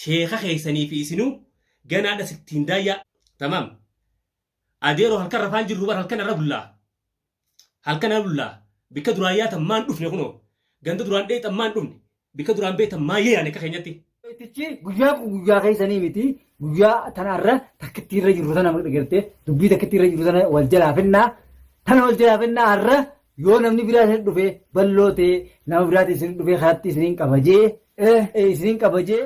Sheeka keessanii fi isinuu ganaadha sittiin daayyaa. Tamaam. Adeeroo halkan rafaan jirru bar halkan irra bullaa. Halkan irra bullaa. Bikka duraan yaatan maan dhufne kunoo. Ganda duraan dheexan maan dhufne. Bikka duraan beetan maa yaane akka keenyatti. Tichi guyyaa kun guyyaa keessanii miti guyyaa tanarra takkittii irra jirru tana gartee dubbii takkittii irra jirru tana wal jalaa fennaa tana wal jalaa fennaa har'a Yoo namni biraa isin dhufee balloo ta'ee nama biraatiin isin dhufee karaatti isiniin qabajee isiniin qabajee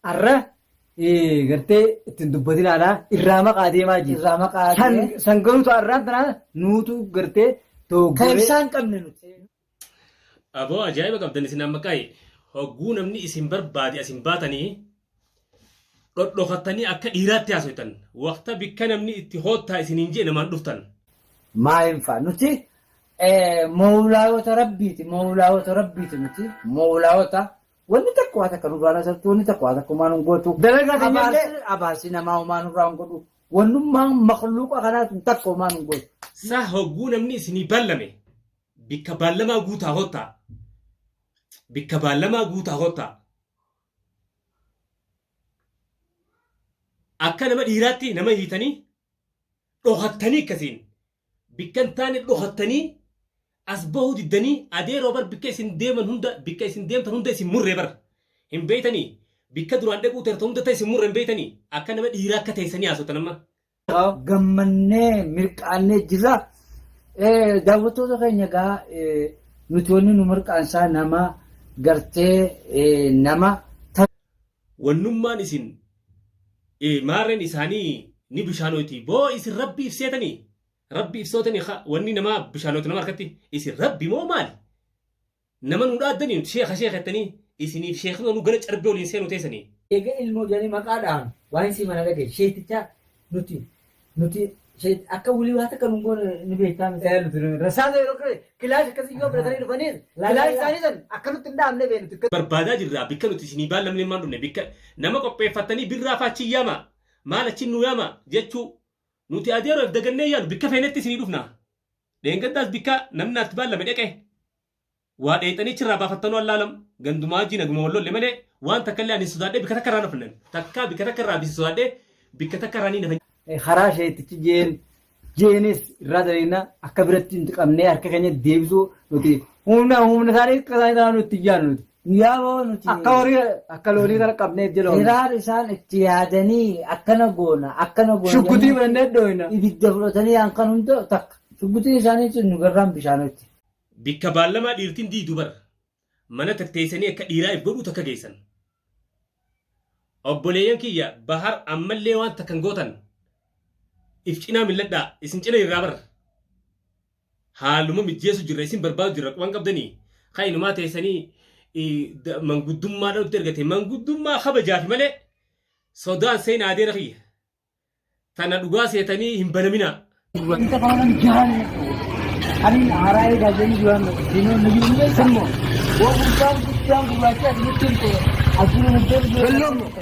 arra gartee ittiin dubbatinaadha irraa maqaa deemaa jiru. Irraa maqaa San deemee. san garuu ta'an irraa tanaa nuutu gartee Kan dogoggoree. ibsaan qabne nuti. Aboo ajaa'iba qabdan isin amma qa'i. Hogguu namni isin barbaade asin baatanii dhodhokattanii akka dhiiraatti haasoytan waqta bikka namni itti hoottaa isiniin jee namaan dhuftan. maa hin fa'a nuti mowlaayota rabbiiti mowlaayota rabbiiti nuti mowlaayota wanni takka waa takka nurraa nasartu wanni takka waa takka humaa nun gootu Dalagaa keenya illee- Abaarsi- abaarsi namaa humaa nurraa hin godhu wannummaan makluuqa kanaa sun takka humaa nun gootu Sa hogguu namni isinii ballame bikka ballamaa guutaa hoottaa bikka ballamaa guutaa hoottaa Akka nama dhiiraatti nama hiitanii dhokattanii akkasiin bikka hin taane dhokattanii as bahuu diddanii adeeroo bar bikka isin deeman hunda bikka isin deemtan hunda isin murree bar hin beeytanii bikka duraan dhaquu teertan hunda ta'e isin murre hin beeytanii akka nama dhiiraa akka teessanii haasoftan amma gammannee mirqaannee jirra. Daawwattoota keenya egaa nuti wanni nu mirqaansaa nama gartee nama. Wannummaan isin maarreen isaanii ni bishaanooti boo isin rabbi ibseetanii rabbi ibsootanii wanni namaa bishaanoota nama harkatti isin rabbi moo maali? Nama nu dhaaddanii nuti sheekha sheekha jettanii isiniif sheekni nu gala carbee waliin seenu teessanii. Eega ilmoo jedhanii maqaa dhahan waan isii mana dhagee sheetichaa nuti nuti sheet akka wulii waa takka nun goone ni beektaa miti. Ee nuti rasaasa yeroo kire kilaash akkasii yoo biratanii dhufaniis kilaash isaanii san akka nutti hin dhaamne bee nuti. Barbaadaa jirraa bikka nuti isinii baallamnee maan dhufne bikka nama qopheeffattanii birraa faachii yaama maal achiin nu yaama jechuu nuti adeeroof dagannee yaanu bikka feenetti isinii dhufna Dheengaddaas bikka namni naatti baallame dhaqe. Waa dheexanii achirraa baafattanoo allaalam. Gandumaa wajjii naguma wal lolle malee waan takka illee ani sodaadhee bikka takka irraa hin hafne. Takkaa bikka takka irraa bisi sodaadhee bikka takka irraa ni nafa. Karaa sheetichi jeen jeenis irraa daleena akka biratti nuti qabnee harka keenya deebisuu nuti humna humna isaanii akka isaanii ta'an nuti ijaan nuti. Guyyaa boo nuti Akka horii akka loonii kana qabnee itti loona. hiraar isaan itti yaadanii akkana goona akkana goona. Shuggutii jennee fudhannee dhooyna. Ibidda fudhatanii hankan hunda takka. Shuggutiin isaanii sun nu garraan bishaanotti. Bikka baallamaa dhiirtiin diidu bar. Mana takteessanii akka dhiiraa if godhuu takka geessan. Obboleeyyan kiyya bahar ammallee waan takkan gootan. If cinaa milladhaa isin cina irraa bar. Haaluma mijjeessu jirra isin barbaadu jirra quban qabdani ka inumaa teessanii manguddummaadhaan nutti ergate manguddummaa kabajaafi malee sodaan seenaa adeera kiyya tana dhugaa seetanii hin banaminaa. Wanta kanaan jahaan ani haaraa eegaa jiran jiran diinoo na jiru beekan moo waan guddaan guddaan gurraacha asirratti hin ta'e asirra na deemu.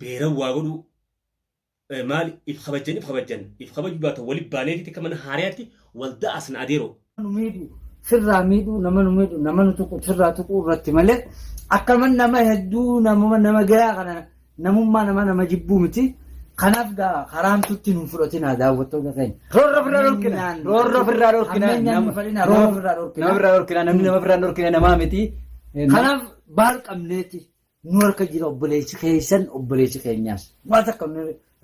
beeran waa godhuu eh, maali if kabajjan if kabajjan if kabajuu baatan wali baaneeti takka mana haariyaatti wal da'asna adeeroo. nu miidhu sirraa miidhu nama nu miidhu nama nu tuqu sirraa tuquu irratti malee akkaman nama hedduu nama nama gayaa kana namummaa nama nama jibbuu miti kanaaf gaa karaamtutti nu fudhatinaa daawwattoota keenya. Roorroo firraa dhorkina. Roorroo firraa dhorkina. Ammeenyaan nu fadhina, roorroo firraa dhorkina. Nama firraa dhorkina. Namni nama firraa dhorkina namaa miti. Kanaaf baal qabneeti. nu harka jira obboleessi keessan obboleessi keenyaas waan takka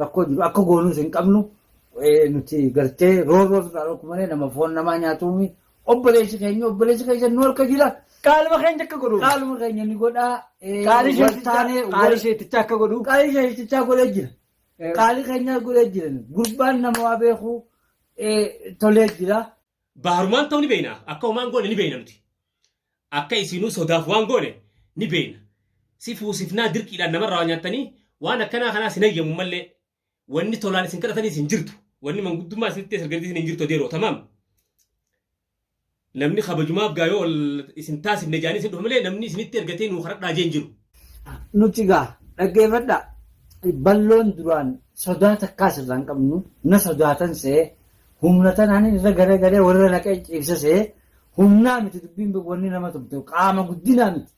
rakkoo jiru akka goonuus hin qabnu nuti gartee roorroo irraa dhokku malee nama foon namaa nyaatuumi obboleessi keenya obboleessi keessan nu harka jira Qaaluma keenya akka godhu. qaaluma keenya ni godhaa Qaalii waltaanee wal- sheetichaa akka godhu. qaalii sheetichaa godhee jira qaalii keenyaa godhee jira gurbaan nama waa beeku tolee jira. Baharumaan ta'uu ni beekna. Akka homaan goone ni beekna nuti. Akka isiinuu sodaaf waan goone ni beekna. Si fuusifnaa dirqiidhaan namarraa waa nyaattanii waan akkanaa kanaas hin hayyamu mallee. Wanni tolaan isin kadhataniis hin jirtu. Wanni manguddummaa isinitti ergatiis hin jirtu adeeroo. Tamaam. Namni kabajumaaf gaa yoo isin taasifne jedhanii isin dhufa malee namni isinitti ergatee nuu kadhadhaa jee hin jiru. Nuti gaa dhaggeeffadhaa. Balloon duraan sodaa takkaas irraa hin qabnu na sodaatan se'ee Humna tanaan irra garagalee walirra naqee ciibsasee humnaa miti dubbiin wanni nama tumte qaama guddinaa miti.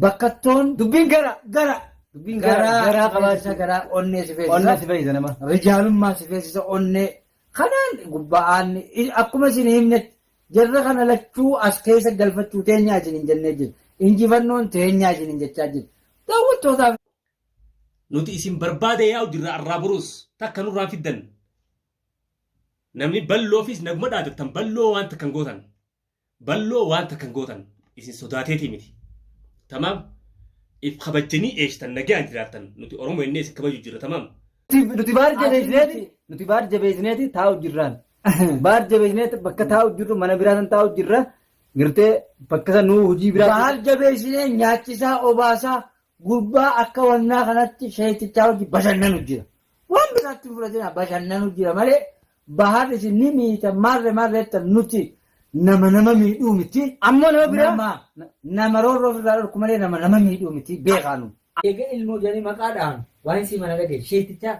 Bakkattoon Dubbiin gara gara dubbiin gara garaa garaa qabaachuu qabaachuu garaa onnee si feesisa. onnee si fayyisa nama. rijaalummaa si feesisa onnee kanaan gubba'aan i- akkuma isin himnetti jarra kana lachuu as keessa galfachuu teenyaa isin hin jennee jiru injifannoon teenyaa isin hin jechaa jiru daawwattootaaf Nuti isin barbaada yaa'u jirra arraa buruus takka nurraa fiddan. Namni balloofis naguma dhaaddattan balloo waan takka hin gootan. Balloo waan takka hin gootan. Isin sodaateetii miti. Tamaam if kabajjanii eeshtan nagaan jiraattan nuti Oromoo innee isin kabaju jirra tamaam. Nuti baar jabeessineeti nuti baar jabeessineeti taa'u jirraan. Baar jabeessineeti bakka taa'u jirru mana biraa san taa'u jirra. Girtee bakka san nuu hojii biraa. Baar jabeessinee nyaachisaa obaasaa Gurbaa akka wannaa kanatti sheekichaa wajji bashannanu jira. Waan biraatti hin fudhatina bashannanu jira malee bahar isin ni miita marre marreetta nuti nama nama miidhuu miti. Ammoo nama biraa? Nama nama roorroo ofirraa dhorku malee nama nama miidhuu miti beekaanu. Eega ilmoo jedhanii maqaa dhahan waan isii mana dhagee sheekichaa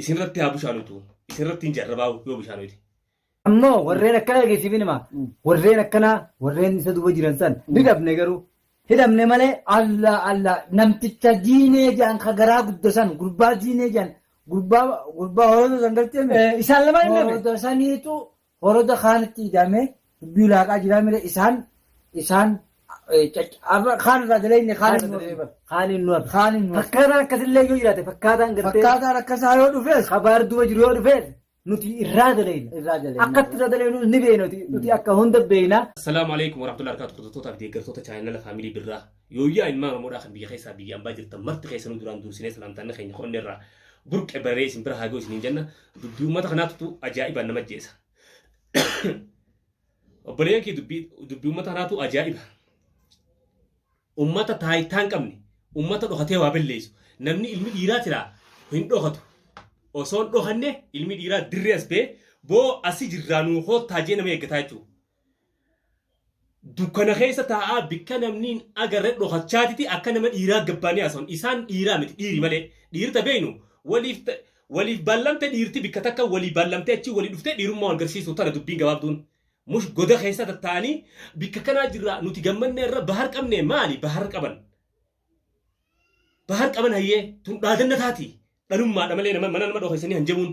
isinirratti haa bushaanutu isinirratti hin jarrabaa'u yoo bushaanuti. Ammoo warreen akkana dhageessiifin hima. Warreen akkanaa warreen isa duuba jiran san ni dhabne garuu. Hidhamne malee Allah Allah namticha diinee jaan ka garaa gudda san gurbaa diinee jaan gurbaa gurbaa horoota san galtee mi? Isaan lamaan hin dhabe. Horoota saniitu Horoda kaanitti idame dubbii ulaaqaa jiraa mire isaan isaan kaan irraa dalagne kaan hin nuuf bar. Kaan hin nuuf. Kaan hin nuuf. Fakkaataan akkasillee yoo jiraate fakkaataan gartee. Fakkaataan akkasaa yoo dhufees. Kabaar duba jiru yoo dhufees nuti irraa dalayna. Irraa dalayna. Akkatti irraa dalaynu ni beekna nuti akka hunda beekna. Assalaamu alaikum warahmatullahi wabarakatuh. Kutattoota fi deeggartoota chaayinala faamilii birraa. Yooyyaa ilmaan Oromoodhaa kan biyya keessaa biyya ambaa jirtan marti keessanuu duraan duursinee salaamtaanna keenya ko'annee irraa burqe bararee isin bira haagoo isiniin jenna dubbii uummata kanaatu ajaa'ibaan nama jeessa. Obboleeyyan kee dubbii dubbii uummata kanaatu ajaa'iba. Uummata taayitaa hin qabne uummata dhokatee waa balleessu namni ilmi dhiiraa tiraa hin dhokatu. Osoo hin dhokanne ilmi dhiiraa dirree as ba'ee boo asi jirraa nuu koottaa jee nama eeggataa jechuudha. Dukkana keessa taa'aa bikka namni hin agarre dhokachaatiti akka nama dhiiraa gabbaanii haasawan. Isaan dhiiraa miti dhiiri malee. Dhiirta beeynu waliif waliif ballamte dhiirti bikka takka walii ballamtee achii walii dhuftee dhiirummaa wal garsiisu tana dubbiin gabaabduun. Mush goda keessa tattaa'anii bikka kanaa jirraa nuti gammanneerra bahar qabnee maali bahar qaban. Bahar qaban hayyee tun dhaadanna taati dhalummaadha malee mana nama dhokeessanii hanjamuun.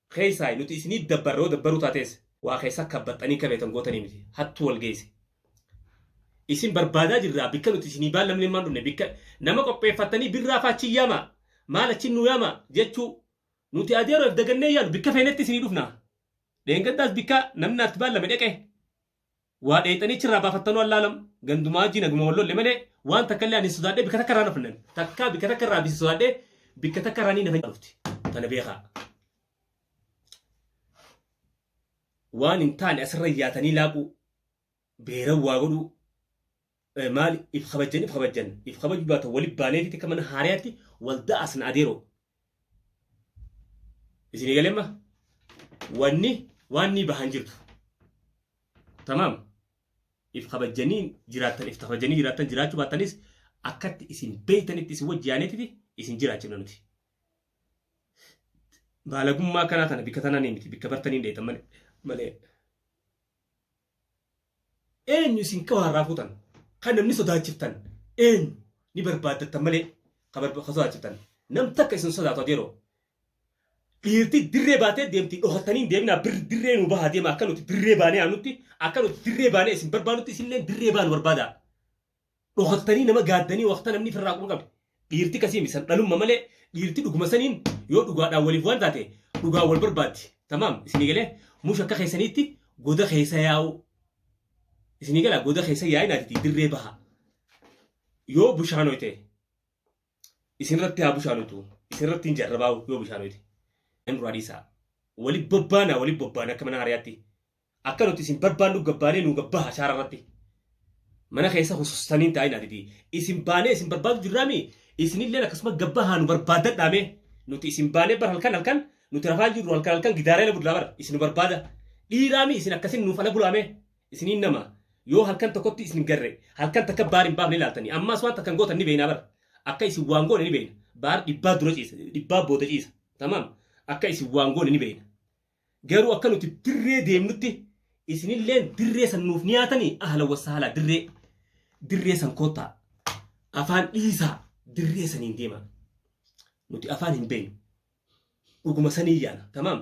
keessaayi nuti isinii dabbarra yoo dabbaruu taatees waa keessaa kabbaxxanii akka beektan gootanii miti hattuu wal geesse isin barbaadaa jirraa bikka nuti isinii baallamnee maan dhufne bikka nama qopheeffattanii birraa faachi yaamaa maal achi nu yaamaa jechuu nuti adeeroof dagannee yaanu bikka feenetti isinii dhufna dheengaddaas bikka namni naatti baallame dhaqee Waa dheeyxanii achi irraa baafattanuu Allaa alam. Gandumaa hajjii naguma wal lolle malee waan takka illee ani hin sodaadhee bikka takka irraa hin hafne ani. Takkaa bikka takka irraa bisi sodaadhee bikka takka irraa ni nafa dhufti. Tana beekaa. Waan hin taane asirra yaatanii laaquu beeran waa godhuu Eh, maali if kabajjan if kabajjan if kabajuu baatan wali baaneefiti akka mana haariyaatti wal da'asna adeeroo isinii galemma wanni waan ni bahan jirtu tamaam if kabajjanii jiraattan if kabajjanii jiraattan jiraachuu baattanis akkatti isin beeytanitti isin wajji yaaneetiti isin jiraachifna nuti baalagummaa kanaa tana bikka tanaa ni miti bikka bartanii hin dheeytan malee malee Eenyu isin qawaa irraa fuutan? Kan namni sodaachiftan eenyu? Ni barbaaddattan malee kan sodaachiftan nam takka isin sodaatu adeeroo. Dhiirti dirree baatee deemti dhokattanii hin deeminaa birri dirree nu bahaa deema akka nuti dirree baanee aanutti akka nuti dirree baanee isin barbaadutti isinillee dirree baanu barbaadaa. dhokaftanii nama gaaddanii waqta namni firraa quba qabe dhiirti kasii mi san dhalumma malee dhiirti dhuguma saniin yoo dhugaadhaan waliif waan taate dhugaan wal barbaaddi tamaam isinii galee mush akka keessaniitti goda keessa yaa'u isinii galaa goda keessa yaa'inaatiti dirree baha yoo bushaanoyte isinirratti haa bushaanutu isinirratti hin jarrabaa yoo bushaanuti nan duraa dhiisaa wali bobbaana wali bobbaana akka mana hariyaatti akka nuti isin barbaannu gabbaanee nu gabbaa hashaara irratti mana keessa husustaniin taa'in adidi isin baanee isin barbaadu jirraami isinillee akkasuma gabbaa haa nu barbaadadhaame nuti isin baanee bar halkan halkan nuti rafaa jirru halkan halkan gidaaree la budlaa bar isin nu barbaada dhiiraami isin akkasin nuuf ala bulaame Isiniin nama, yoo halkan tokkotti isin garre, halkan takka baar hin baafne laaltanii, ammaas waan takkan gootan ni beeyna bar. Akka isin waan goone ni beeyna. Baar dhibbaa dura ciisa, dhibbaa booda ciisa. Tamaam? Akka isin waan goone ni beeyna. Garuu akka nuti dirree deemnutti, isinilleen dirree san nuuf ni yaatanii? Ahlan wa sahalaa dirree, dirree san koottaa. Afaan dhiisaa, dirree saniin deemaa. Nuti afaan hin beeynu. Dhuguma sanii yaana. Tamaam?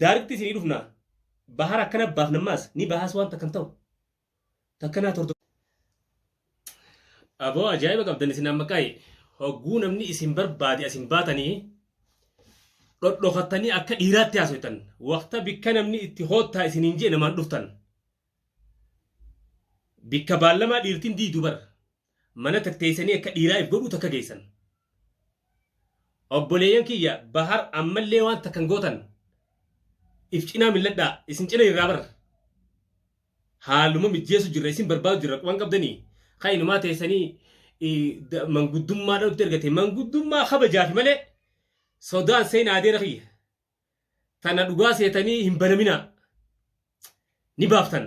Daaritti isinii dhufna bahara akkana baafna ammaas ni bahaas waan takkan ta'u takka naa tordo. Aboo ajaa'iba qabdan isin amma qayi hogguu namni isin barbaade asin baatanii dhodhokattanii akka dhiiraatti haasoytan waqta bikka namni itti hoottaa isiniin jee namaan dhuftan bikka baallamaa dhiirtiin diidu bar mana tatteessanii akka dhiiraa if godhuu takka geessan. Obboleeyyan kiyya bahar ammallee waan takka hin gootan if cinaa milladhaa isin cina irraa bar. Haaluma mijjeessu jirra isin barbaadu jirra waan qabdanii kan inumaa teessanii i- da- manguddummaadhaan nutti ergate manguddummaa kabajaafi malee sodaan seenaa adeera kiyya. tana dhugaa seetanii hin banaminaa ni baaftan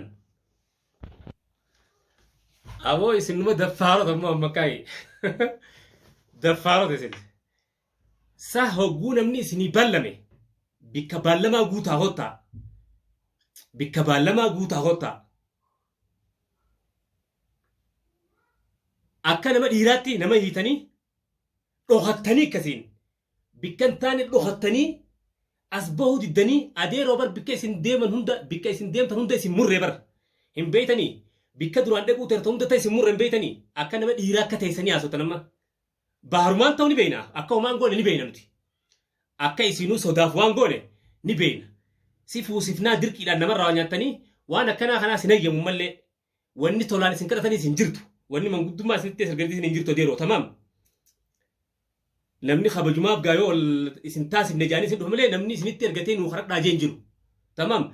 aboo isin numa daffaarota immoo amma kaa'e daffaarota isin sa hogguu namni isinii ballame bikka ballamaa guutaa hottaa bikka ballamaa guutaa hottaa akka nama dhiiraatti nama hiitanii dhokattanii akkasiin Bikka hin taane dhokattanii as bahuu diddanii adeeroo bar bikka isin deeman hunda bikka isin deemtan hunda isin murre bar hin beeytanii bikka duraan dhaquu teertan hunda ta isin murre hin beeytanii akka nama dhiiraa akka teessanii haasotan amma baarumaan ta'u ni beeyna akka homaan goone ni beeyna nuti akka isinuu sodaaf waan goone ni beeyna si fuusifnaa dirqiidhaan namarraa waa nyaattanii waan akkanaa kanaa sin hayyamu mallee Wanni tolaan isin kadhataniis hin jirtu. Wanni manguddummaa isinitti ta'es erganitis hin jirtu adeeroo tamaam. Namni kabajumaaf gaa yoo isin taasifne jaanii isin dhufa malee namni isinitti ergatee nuu karadhaa jee hin jiru. Tamaam.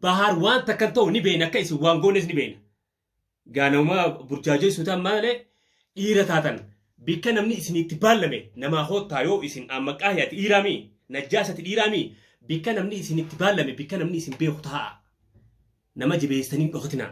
Bahaar waan takkan ta'u ni beeyna akka isin waan goones ni beeyna. Gaa namumaa burjaajeessuu ta'an malee dhiira taatan bikka namni isinitti baallame namaa koottaa yoo isin ammaqaa yaati dhiiraamii najjaasati dhiiraamii bikka namni isinitti baallame bikka namni isin beeku taa'a. Nama jibeessitanii hin dhokatinaa.